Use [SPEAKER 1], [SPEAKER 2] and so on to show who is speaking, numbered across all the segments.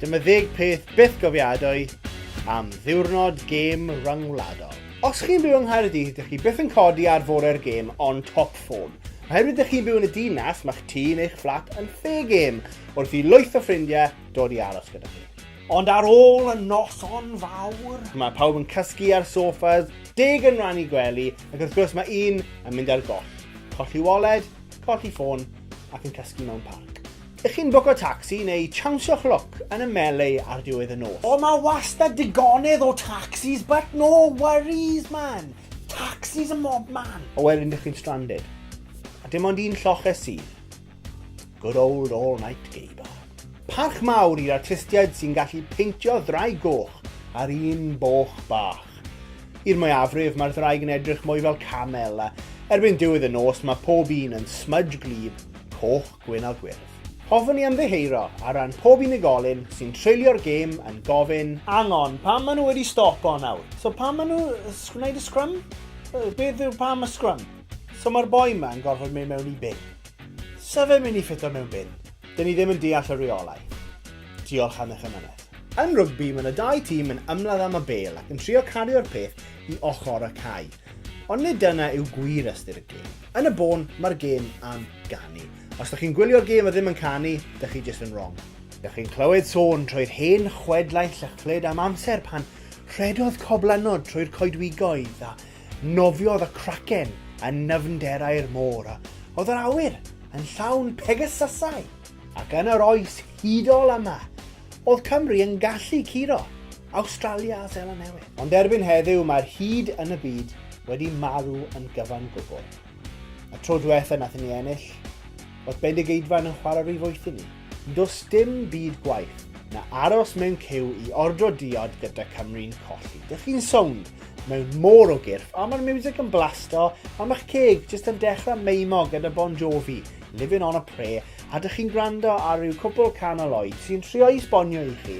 [SPEAKER 1] Dyma ddeg peth byth gofiadwy am ddiwrnod gêm ryngwladol. Os chi'n byw yng Nghaerdydd, ydych chi byth yn codi ar fore'r gêm on top form. Oherwydd ydych chi'n byw yn y dinas, mae'ch tŷ neu'ch fflat yn lle gêm wrth i lwyth o ffrindiau dod i aros gyda chi. Ond ar ôl y noson fawr, mae pawb yn cysgu ar sofas, deg yn rannu gwely, ac wrth gwrs mae un yn mynd ar goll. Colli waled, colli ffôn, ac yn cysgu mewn parc. Ych chi'n bwco tacsi neu chawnsio chloc yn y melee ar diwedd y nos? O, mae wastad digonedd o taxis, but no worries, man. Taxis y mob man. O, wedyn ydych chi'n stranded. A dim ond un lloches sydd. Good old all night gay bar. Parch mawr i'r artistiaid sy'n gallu peintio ddrai goch ar un boch bach. I'r mwyafrif mae'r ddraig yn edrych mwy fel camel a erbyn diwedd y nos mae pob un yn smudge glib, coch, gwyn a gwyrdd. Hoffwn i ymddiheuro ar ran pob unigolyn sy'n treulio'r gêm yn gofyn Hang on, pam maen nhw wedi stopo nawr? So pam maen nhw gwneud y scrum? Beth yw pam y scrum? So mae'r boi yma yn gorfod mynd mewn i bin. Sa fe'n mynd i ffito mewn bin. Dyn ni ddim yn deall y rheolau. Diolch am eich amynedd. Yn rygbi, mae 'na dau tîm yn ymladd am y bêl ac yn trio cario'r peth i ochr y cae. Ond nid dyna yw gwir ystyr y gêm. Yn y bôn, mae'r gêm am ganu. Os dych chi'n gwylio'r gêm a ddim yn canu, dych chi jyst yn wrong. Dych chi'n clywed sôn trwy'r hen chwedlau llychlyd am amser pan rhedodd coblenod trwy'r coedwigoedd a Nofiodd y craken yn nyfnderau'r môr, oedd yr awyr yn llawn Pegasysau, ac yn yr oes hudol yma, oedd Cymru yn gallu curo Awstralia a Seland Newydd. Ond erbyn heddiw mae'r hud yn y byd wedi marw yn gyfan gwbl. Y tro dwetha nathon ni ennill, oedd Bendigeidfran yn chwarae rhy foeth i ni. Does dim byd gwaeth na aros mewn cyw i ordro diod gyda Cymru'n colli. Dych chi'n sownd mewn môr o gyrff, a mae'r music yn blasto, a mae'ch ceg jyst yn dechrau meimo gyda Bon Jovi, Living on a Prayer, a dych chi'n gwrando ar ryw cwpl can o Lloyd sy'n trio i sbonio i chi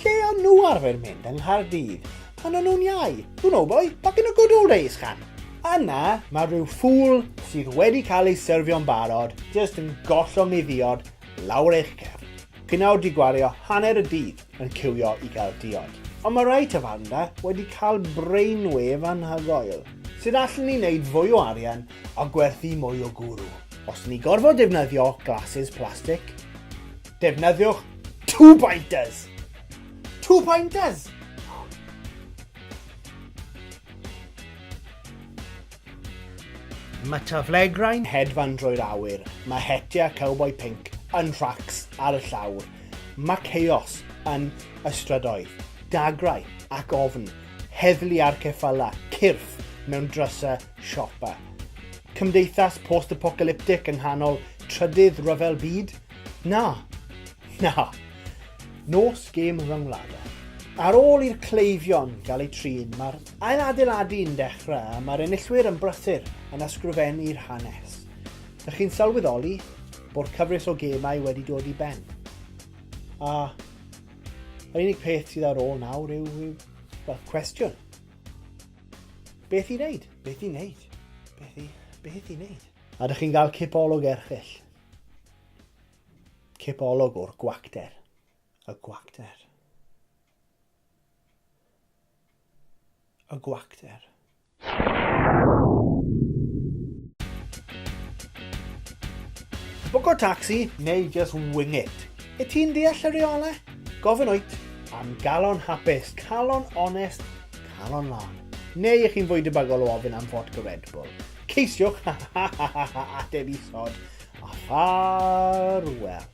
[SPEAKER 1] Lle o'n nhw arfer mynd yng Nghaerdydd pan o'n nhw'n iau? You know boy, back in the good old days, can? Yna, mae rhyw ffŵl sydd wedi cael ei syrfio'n barod jyst yn gollwng mi ddiod lawr eich cefn. Chi'n awr di gwario hanner y dydd yn ciwio i gael diod. Ond mae rai tafarndra wedi cael brainwave anhygoel. Sut allen ni wneud fwy o arian a gwerthu mwy o gwrw? Os ni gorfod defnyddio glasses plastic? Defnyddiwch two pointers. Two pointers! Mae taflegrau'n hedfan drwy'r awyr, mae hetiau cowboi pinc yn rhacs ar y llawr, mae chaos yn y strydoedd, dagrau ac ofn, heddlu ar ceffylau, cyrff mewn drysau siopa. Cymdeithas post-apocalyptic yng nghanol trydydd rhyfel byd? Na! Na! Nos gêm rhyngwladol. Ar ôl i'r cleifion gael eu trin, mae'r ailadeiladu'n dechrau a mae'r enillwyr yn brysur yn ysgrifennu'r hanes. Ydych chi'n sylweddoli bod cyfres o gemau wedi dod i ben? A yr unig peth sydd ar ôl nawr yw, yw well, cwestiwn. Beth i wneud? Beth i wneud? Beth i, beth i wneud? A ydych chi'n cael cipolwg erchill? Cipolwg o'r gwacter. Y gwacter. Y gwacter. Bwco tacsi neu just wing it. Y ti'n deall y reole? Gofyn oet am galon hapus, calon onest, calon lan. Neu ych chi'n fwy debygol o ofyn am fodca Red Bull. Ceisiwch ateb isod a ffarwel.